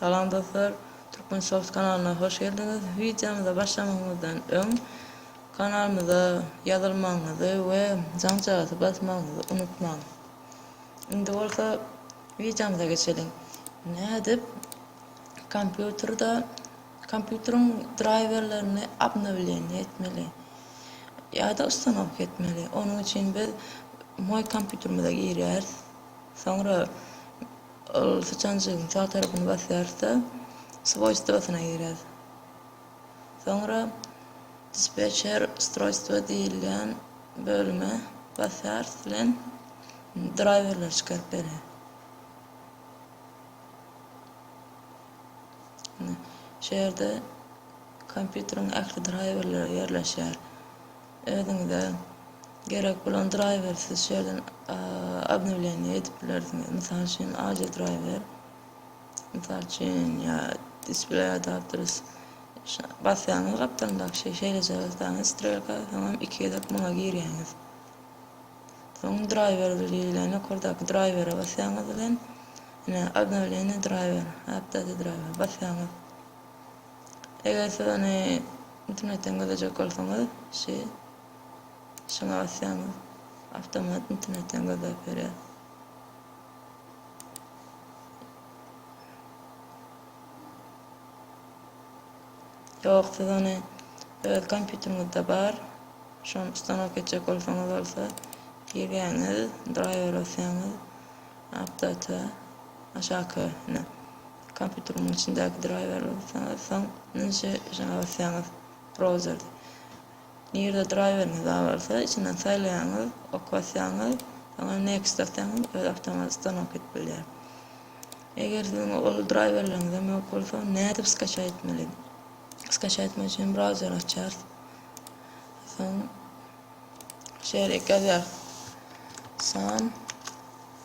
Salam dostlar! Türkmen Shows kanalyna hoş geldiňiz! Wideomyza başlamazymyzdan öň kanalymyza ýazylmagyňyzy we jaňjagazdy basmagyňyzy unutmaň! Indi bolsa wideomyza geçeliň! Nädip kompýuterde kompýuteriň draýwerlerini obnowleniýe etmeli ýa-da ustanowka etmeli? Onuň üçin biz Moý kompýuterimize girýäris. Soňra Ol syçanjygyň sag tarapyny basýarys-da, swoýstwosyna girýäris. Soňra dispetçer ustroýstwo diýilýän bölüme basýarys bilen draýwerleri çykaryp berýär. Ine, şu ýerde kompýuteriň ähli draýwerleri ýerleşýär. Özüňize gerek bolan draýweri siz şu ýerden obnowleniýe edip bilersiňiz. Mysal üçin, AJ draýwer, mysal üçin, ýa display adapters. Basýaňyz gapdalyndaky şey, şeýleje basýaňyz strelka, soňam iki gezek muňa girýäňiz. Soň draýwer diýlen ýokardaky draýwere basýaňyz bilen, ine, obnowleniýe draýwer, update draýwer basýaňyz. Eger siz ony internetden gözlejek bolsaňyz, şi şyňa basýaňyz, awtomat internetden gözläp berýär. Ýok, siz ony öz kompýuteriňizde bar, şony ustanok etjek bolsaňyz bolsa, girýäňiz, driver basýaňyz, update, aşaky, ine. Kompýuteriň içindäki draýwerleri saňa soň nji şa basýaňyz browzerde. Nirde draýweriňiz bar bolsa, içinden saýlaýaňyz, ok basýaňyz, soňra next basýaňyz, özi awtomat stanok edip bilýär. Eger siziň ol draýwerleriňizem ýok bolsa, nädip skaça etmeli? Skaça etmek üçin browzeri açýarys. Soň şeýle ýazýarys. San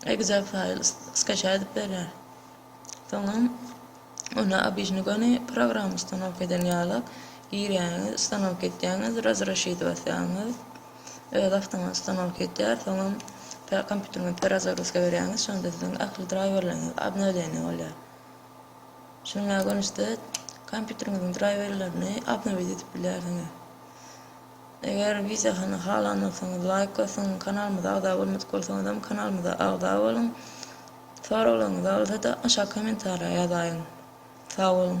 Exa faýl skaça edip berýär. Soňam ony obijny göni programma ustanowka eden ýaly girýäňiz, ustanowka etýäňiz, razrashid basýaňyz. Öz awtomat ustanowka etýär. Soňam kompýuteriňizi perazagruska berýäňiz, şonda siziň ähli draýwerleriňiz obnowleniýe bolýar. Şunuň ýaly görnüşde kompýuteriňiziň draýwerlerini obnowit edip bilýärsiňiz. Eger wideony halanmasaňyz laýk basyň, kanalymyza agza bolmadyk bolsaňyzam kanalymyza agza boluň. Soraglaryňyz bolsa-da aşak kommentariýa ýazaýyň. Sag boluň.